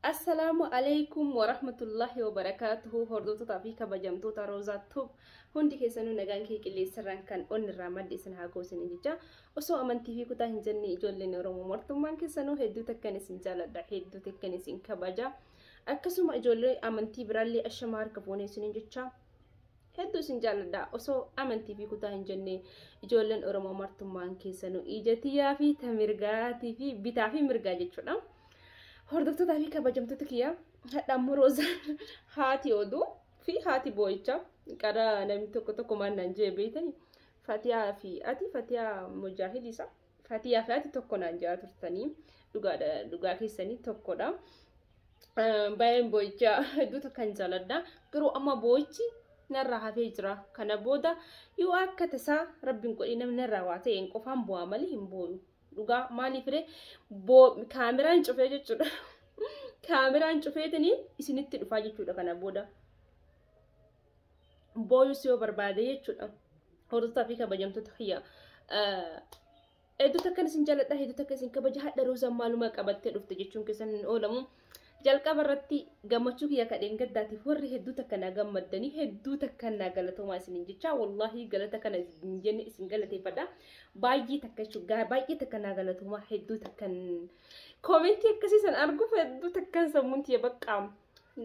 Assalaamu Aleykum Warahmatullahi Wabarakatuhu Hordoftoota fi kabajamtoota Roozaa Tube hundi keessanuu nagaan kee qilleensarraan kan onnirraa madde isin haa goosine jecha osoo amantii fi kutaa hin jenne ijoolleen Oromoo martummaan keessanuu hedduu takkan isin jaaladha hedduu takkan isin kabaja akkasuma ijoollee amantii biraallee ashama harka fuunee isiniin jecha hedduu isin jaaladha osoo amantii fi kutaa hin jenne ijoolleen Oromoo martummaan keessanuu ija tiyyaa fi ta mirgaatii fi bitaa fi mirgaa jechuudha. Hordoftoota fi kabajamtoota kiyyaa hadha ammoo Roozaa haati oduu fi haati boo'icha qara namni tokko tokko maal naan jee beeytani Fatiyaa fi ati Fatiyaa Mujaahid isa Fatiyaa fi ati tokko naan jaa turtanii dhugaadha dhugaa keessanii tokkodha. Baay'een boo'icha hedduu takkan jaaladha garuu amma boo'ichi narraa hafee jira kana booda yoo akka tasaa rabbiin godhee namni narraa waa ta'een qofaan bu'aa malee hin boo'u dhugaa maaliif ree boo kaameraan cufee jechuudha kaameraan cufeetini isinitti dhufaa jechuudha kana booda booyus yoo barbaade jechuudha hordoftaa fi kabajamtoota kiyya hedduu takkan isin jaaladha hedduu takka isin kabaja hadha roozaan maaluma qabattee dhufte jechuun keessan hin oolamu Jalqaba irratti gammachuu kiyya ka dheengaddaatiif warri hedduu takka naa gammaddanii hedduu takka naa galatoomaa isiniin jecha wallaahi galata kana hin jenne isin galateeffadha baay'ee takka jechuudha baay'ee takka naa galatoomaa hedduu takkan koomentii akkasii san arguuf hedduu takkan sammuun tiyya baqqaam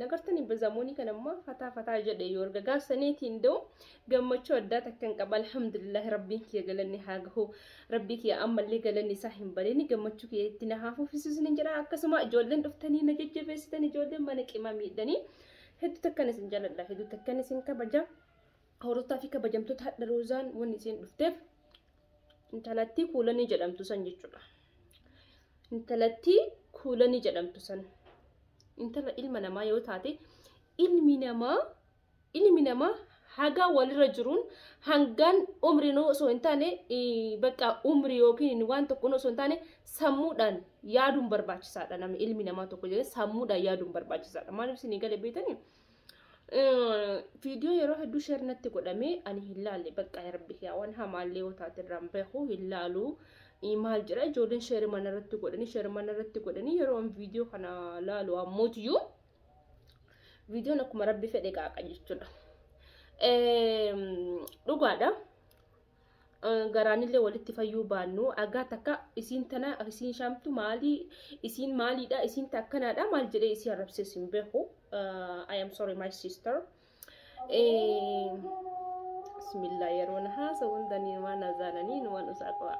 nagartanii bazamoonii kan ammaa fataa fataa jedhe yoo erga gaafsaneetiin da'u gammachuu addaa takkan qaba alhamdulillahi rabbiin kiyya galanni haa gahu rabbii kiyya ammallee galanni isaa hin bareeni gammachuu kiyya itti na haa fufisu isinin jedha akkasuma ijoolleen dhuftanii na jajjabeessitan ijoolleen mana qima miidhanii hedduu takkan isin jaladha hedduu takkan isin kabaja horotaa fi kabajamtoota hadha roozaan wanni isin dhufteef intalattii kuulanii jedhamtu san jechuudha intalattii kuulanii jedhamtu san intala ilma namaa yoo taate ilmi namaa Ilmi namaa hagaa walirra jiruun hangaan umriin osoo hin taane bakka umrii yookiin waan tokkoon osoo hin taane sammuudhaan yaaduun barbaachisaadha namni ilmi namaa tokko jedhee sammuudhaan yaaduun barbaachisaadha maaliif isin eegale beektanii viidiyoo yeroo hedduu sheer natti godhamee ani hin laalle bakka rabbi yaa waan hamaallee yoo taate irraan beeku hin laalu maal jedha ijoolleen sheer mana irratti godhanii sheer mana irratti godhanii yeroo viidiyoo kana laalu ammootiyyu viidiyoon akkuma rabbi fedhe qaaqa jechuudha. Dhugaadha. Garaanillee walitti fayyuu baannu agaa takka isiin tana isiin shaamtu maalii isiin maaliidha isiin takkanaadha maal jedhee isii arrabsees hin beeku. I am sorry my sister. Bismillah yeroo na haasa hunda ni waan azaananii ni waan usaa qabaa.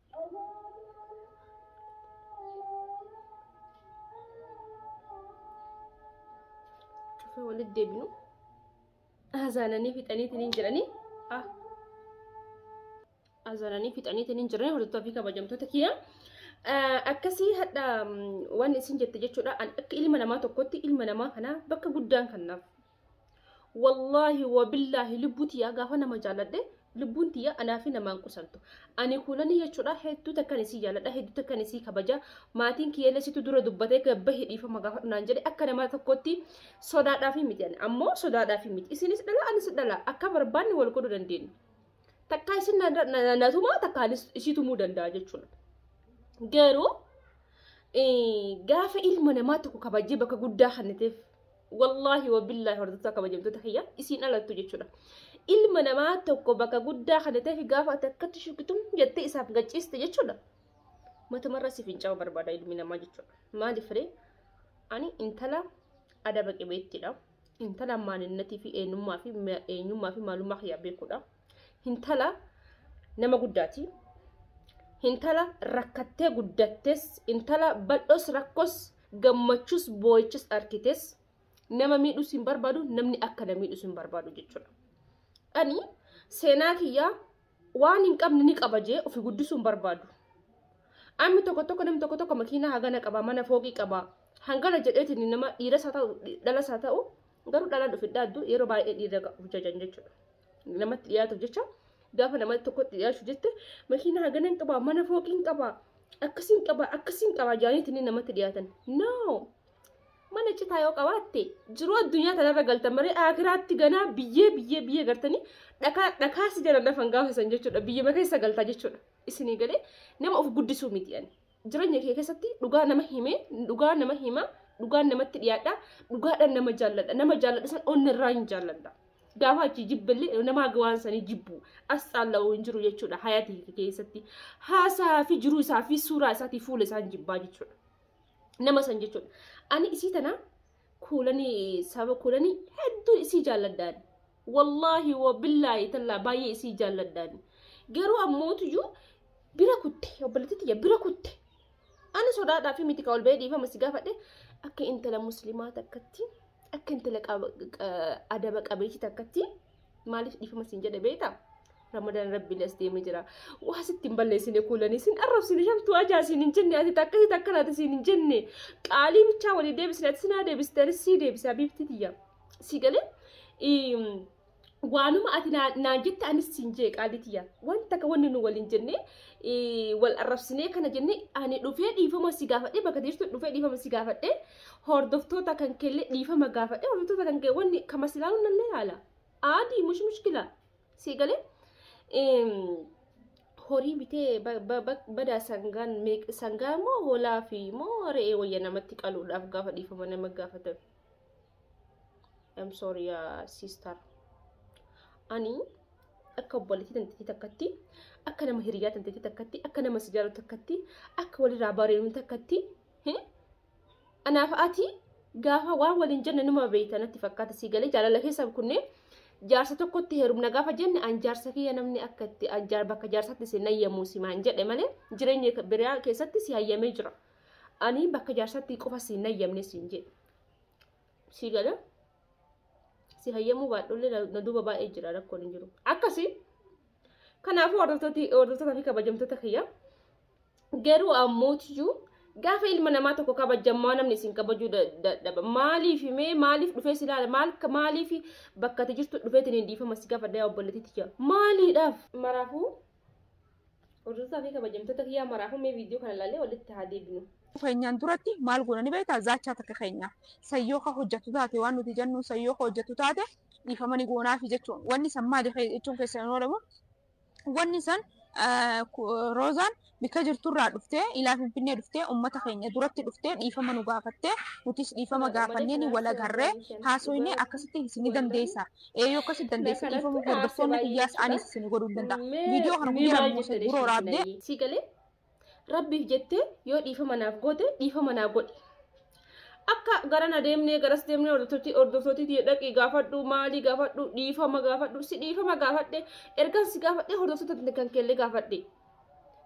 Cufa walitti deebinu. Hazaananii fixaniitiin hin jiranii. Ah. Hazaananii fixaniitiin hin jiranii hordoftoota fi kabajamtoota kiyya. Akkasii hadha waan isin jette jechuudha. Akka ilma namaa tokkotti ilma namaa kana bakka guddaan kanaaf Wallaahi wabillaahi lubbuu tiyyaa gaafa nama jaalladhe lubbuun tiyya anaa fi namaan qusantu. Ani kuulanii jechuudha hedduu takkan isii jaalladha hedduu takkan isii kabaja maatiin kiyyallee situ dura dubbatee gabbahi dhiifama gaafadhu naan jedhe akka nama tokkotti sodaadhaafi miti ani ammoo sodaadhaafi miti isinis dhala anis dhala akka barbaanne wal godhuu dandeenya. Takkaa isin na- na- na- na tumaa takkaa anis isii tumuu danda'a jechuudha. Garuu eh, gaafa ilma namaa tokko kabajee bakka guddaa kennateef wallaahi wabillahi hordoftoota kabajamtoota kiyya isiin alattu jechuudha. Ilma namaa tokko bakka guddaa kan ta'eef gaafa ati akkatti shukkitum jettee isaaf gachiiste jechuudha. Matumarra si fincaa'uu barbaada ilmi namaa jechuudha. Maaliif ree? Ani intala adaba qabeettiidha. Intala maalinnatii fi eenyummaa fi eenyummaa fi maalummaa kiyyaa beekudha. Intala nama guddaati. Intala rakkattee guddattes intala bal'oos rakkoos Gammachus boo'ichas arkites nama miidhus hin barbaadu namni akka na miidhus hin barbaadu jechuudha. Ani seenaa kiyyaa waan hin qabne ni qaba jee ofi guddisuu hin barbaadu. Ammi tokko tokko namni tokko tokko makiinaa hagana qaba mana fooqii qaba hangana jedheetiin nama dhiiras haa ta'u dhalas haa ta'u garuu dhalaan ofi dhaaddu yeroo baay'ee dhiira of jajan jechuudha. Namatti dhiyaatuuf jecha Gaafa namatti tokkotti dhiyaachuu jette makiina hagana hin qabaa mana fooqii hin qabaa akkasii hin qabaa akkasii hin qabaa jaaniiti inni namatti dhiyaatan. No! Mana citaa yoo qabaatte jiruu addunyaa tanarra galtan malee akiraatti ganaa biyyee biyyee biyyee gartanii dhakaa dhakaa si jala lafan gaafasan jechuudha biyyuma keessa galtaa jechuudha isinii galee nama of guddisuu miti ani. Jireenya kee keessatti dhugaa nama himee, dhugaa nama hima, dhugaan namatti dhiyaadha, dhugaadhaan nama jaalladha, nama jaalladha san onni irraa hin jaalladha. Gaafa achi jibbillee namaa waan sanii jibbu as caalla'u hin jiru jechuudha hayatii kee keessatti. Haasaa fi jiruu isaa fi suuraa isaatii fuula isaan jibbaa jechuudha. Nama san jechuudha. Ani isii tana kuulani saba kuulani hedduu isii jaalladhaan wallaahi wa billaahi tallaa baay'ee isii jaalladhaan garuu ammootuyyuu bira kutte obboleettii tiyya bira kutte ani sodaadhaa fi miti ol ba'ee dhiifama si gaafadhe akka intala muslimaa takkatti akka intala adaba qabeetii takkatti maaliif dhiifama siin jedhe beekta ramadaan rabbiin as deemee jira waa sitti hin balleessine kuulanii siin arrabsine shamtuu ajaa siin hin jenne ati takka si takka naati siin hin jenne qaalii bichaa walii deebisne ati sinaa deebiste anis sii deebise habiibtii tiyya si galee waanuma ati naan jette anis siin jee qaalii tiyya waan takka wanni nu waliin jenne wal arrabsinee kana jenne ani dhufee dhiifama si gaafadhe bakka jirtu dhufee dhiifama si gaafadhe hordoftoota kan keellee dhiifama gaafadhe hordoftoota kan kee wanni kama silaalu nallee haala aadii mush mushkila sii galee horii bitee badaa sangaan sangaa moo hoolaa fi moo re'ee wayya namatti qaluudhaaf gaafa dhiifama nama gaafatan I'm sorry uh, sister ani akka obboleettii tanteetii takkatti akka nama hiriyaa tanteetii takkatti akka nama sijaaru takkatti akka walirraa bareenu takkatti Anaaf ati gaafa waan waliin jenne numa beeyta natti fakkaata sii galee jaalala keessa kunneen jaarsa tokkotti heerumna gaafa jenne an jaarsa kiyya namni akka itti an jaar bakka jaarsatti si nayyamuu si maan jedhe malee jireenya biraa keessatti si hayyamee jira. Ani bakka jaarsatti qofa si nayyamne siin jedhe. Sii galee si hayyamuu baadhollee na duuba baay'ee jira rakkoon hin jiru. Akkasii kanaafuu hordoftoota fi kabajamtoota kiyya Garuu ammootiyyuu gaafa ilma namaa tokko kabajjan maa namni isin kabajuu dadhaba maaliif mee maaliif dhufee si ilaala maal maaliif bakka ati jirtu dhufeetiin hin dhiifama si gaafa daa obboleetti tiyya maaliidhaaf maraafuu hordofaa fi kabajamtoota kiyyaa maraafuu mee viidiyoo kana ilaalee walitti haa deebinu. keenyaan duratti maal goona ni beektaa zaachaa takka keenya sayyoo ka hojjatu taate waan nuti jennu sayyoo ka hojjatu taate dhiifamani goonaafi jechuun wanni san maali jechuun keessan hin oolamu Wanni san Roozaan bikka jirturraa dhuftee ilaa Finfinnee dhuftee ummata keenya duratti dhuftee dhiifama nu gaafattee nutis dhiifama gaafanneeni wal agarree haasoynee akkasitti isin ni dandeessa ee yoo akkasitti dandeesse dhiifama hordoftoonni kiyyaas anis isin godhuun danda'a viidiyoo kana guyyaa lama moo sadi dura waraabdee si galee rabbiif jettee yoo dhiifama naaf goote dhiifama naa godhi akka garana deemnee garas deemnee hordoftootiitti dhaqii gaafadhu maalii gaafadhu dhiifama gaafadhu si dhiifama gaafadhe ergaan si gaafadhe hordoftoota kan keellee gaafadhe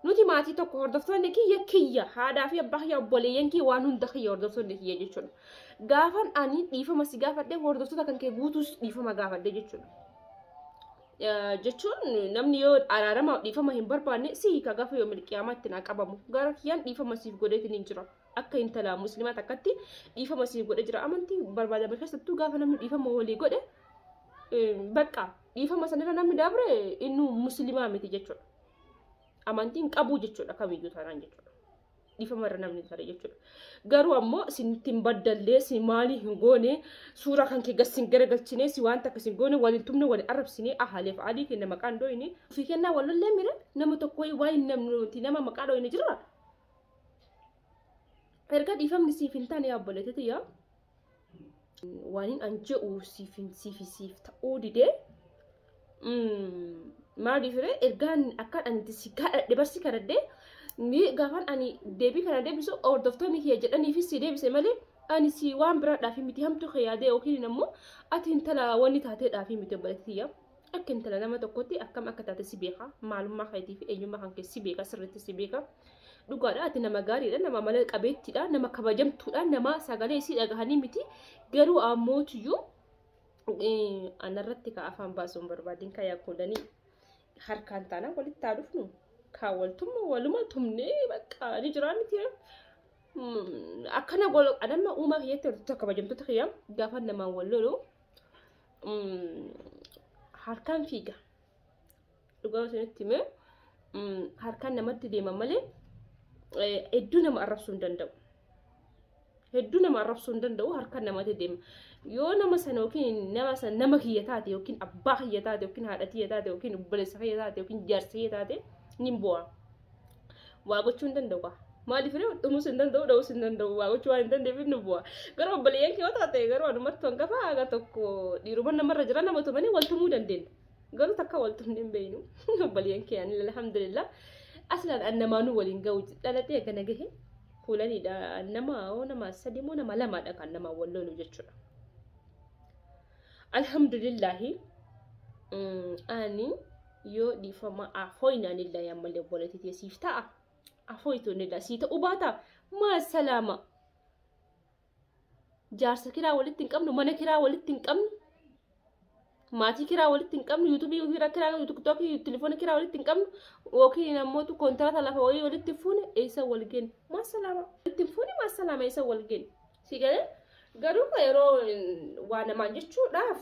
nuti maatii tokko hordoftoonni kiyya kiyya haadhaa fi abbaa kiyya obboleeyyan kiyya waan hunda kiyya hordoftoonni kiyya jechuudha gaafan ani dhiifama si gaafadhe hordoftoota kan kee guutuus dhiifama gaafadhe jechuudha. jechuun namni yoo araarama dhiifama hin barbaanne si hiika gaafa yoo milqiyamaa ittiin haa qabamu gara kiyyaan dhiifama siif godheetiin hin jira akka intala muslimaa takkatti dhiifama siif godhe jira amantii barbaadame keessattuu gaafa namni dhiifama walii godhe bakka dhiifama sanirra namni dabre inni muslimaa miti jechuudha amantiin qabuu jechuudha kamiyyuu taanaan jechuudha. dhiifama irra namni tare jechuudha. Garuu ammoo isinittiin baddallee si maalii hin goone suuraa kan kee gas sin garagalchine si waan takka sin goone waliin tumne wali arrabsine ahaleef alii kenna maqaan dooyne ofii kennaa walollee mire nama tokko waa hin namnuti nama maqaa dooyne jirra. Erga dhiifamni siif hin taane yaabboleetiti yaa waanin an je'u siif hin siif siif ta'uu didee maaliif ree ergaan akkaan ani itti si kadhadhe barsi kadhadhe ni gaafan ani deebii kana deebisu hordoftoonni kiyya jedhaniifis si deebise malee ani si waan biraadhaaf miti hamtu kee yaadee yookiin ammoo ati intala wanni taateedhaaf miti obboleetti tiyya Akka intala nama tokkotti akkam akka taate si beeka. Maalummaa keetii fi eenyummaa kan kee si beeka sirriitti si beeka. Dhugaadha ati nama gaariidha nama mala qabeettiidha nama kabajamtuudha nama sagalee isii dhagahanii miti garuu ammootiyyuu anarratti ka afaan baasuu hin barbaadin ka yaakkoodanii harkaan taanaan walitti haa dhufnu kaa waltumma waluma tumnee bakka ni jiraa miti akkana golo anamma uumaa kiyyatti walitti kabajamtoota kiyya gaafa namaan wal lolu harkaan fiiga dhugaa isinitti himee harkaan namatti deema malee hedduu nama arrabsuu hin danda'u. Hedduu nama arrabsuu hin danda'u harkaan namatti deema. Yoo nama sana yookiin nama sana nama kiyya taate yookiin abbaa kiyya taate yookiin haadha kiyya taate yookiin obboleessa kiyya taate yookiin jaarsa kiyya taate ni bu'a. waa gochuu hin danda'u kaa maaliif ree dhumuus hin danda'u dha'uus hin danda'u waa gochuu waan hin danda'eef inni bu'a garuu obboleeyyan kee yoo taate garuu anumattu hangafa haga tokko dhiiruma namarra jira nama tumanii wal tumuu dandeenya garuu takka wal tumni hin beeynu obboleeyyan kee ani alhamdulillah aslaan an namaanuu waliin ga'u dhalatee gana gahe kuulaniidha nama oo nama sadii moo nama lamaadha kan nama wal lolu jechuudha. Alhamdulillahi ani yoo dhiifama afooyin anillee ammallee obboleetti ta'e siif ta'a. Afooyitu anillee sii ta'uu baata. Maa salaama. Jaarsa kiraa walitti hin qabnu, mana kiraa walitti hin qabnu. Maatii kiraa walitti hin qabnu, yuutuubii kiraa kiraa tiktookii telefoona kiraa walitti hin qabnu. Yookiin ammoo kontiraata lafa wayii walitti hin fuune eessa wal geenye. Maa salaama. Walitti hin fuune maa salaama eessa wal geenye. Si galee garuu yeroo waa namaan jechuudhaaf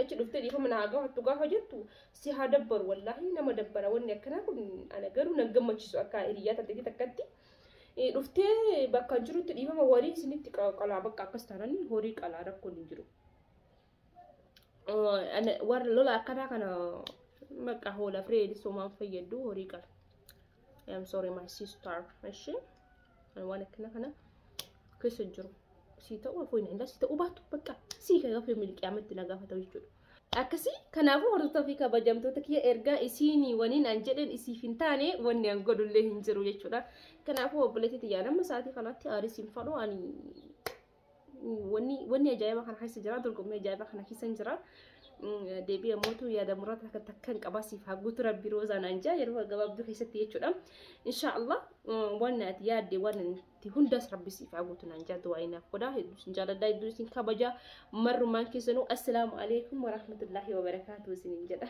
achi dhuftee dhiifama naa gaafattu gaafa jettu si haa dabbaru wallaahi nama dabbara wanni akkanaa kun ana garuu nan gammachiisu akka hiriyyaa tatteetti takkatti dhuftee bakka jirutti dhiifama warii isinitti qalaa bakka akkas taananii horii qalaa rakkoon hin jiru. warra lola akkanaa kana bakka hoola fireed somaan fayyaddu horii qala. I'm sorry my sister. Eshi waan akkana kana keessa jiru. Sii ta'uu afoo hin danda'a sii ta'uu baatu bakka sii kan gaafa yommuu qiyaametti na gaafata jechuudha. Akkasii kanaafuu hordoftoota fi kabajamtoota kiyya ergaa isiinii waniin an jedheen isiif hin taane wanni an godhullee hin jiru jechuudha. Kanaafuu obboleetti tiyyaa nama sa'aatii kanatti aarii siin fadhu ani Wanni wanni ajaa'iba kana keessa jira dorgommii ajaa'iba kana keessa hin jira. Deebii ammootu yaada muraasa takka takka hin qabaa siif haa guutu rabbi roozaa naan jaa yeroo gabaabduu keessatti jechuudha. Insha Allah waan ati yaadde waan itti hundaas rabbi siif haa guutu naan jaa du'aa inaaf godha hedduu isin jaaladha hedduu isin kabaja marrumaan keessanuu assalaamu alaikum warahmatullaahi wabarakaatu isinin jedha.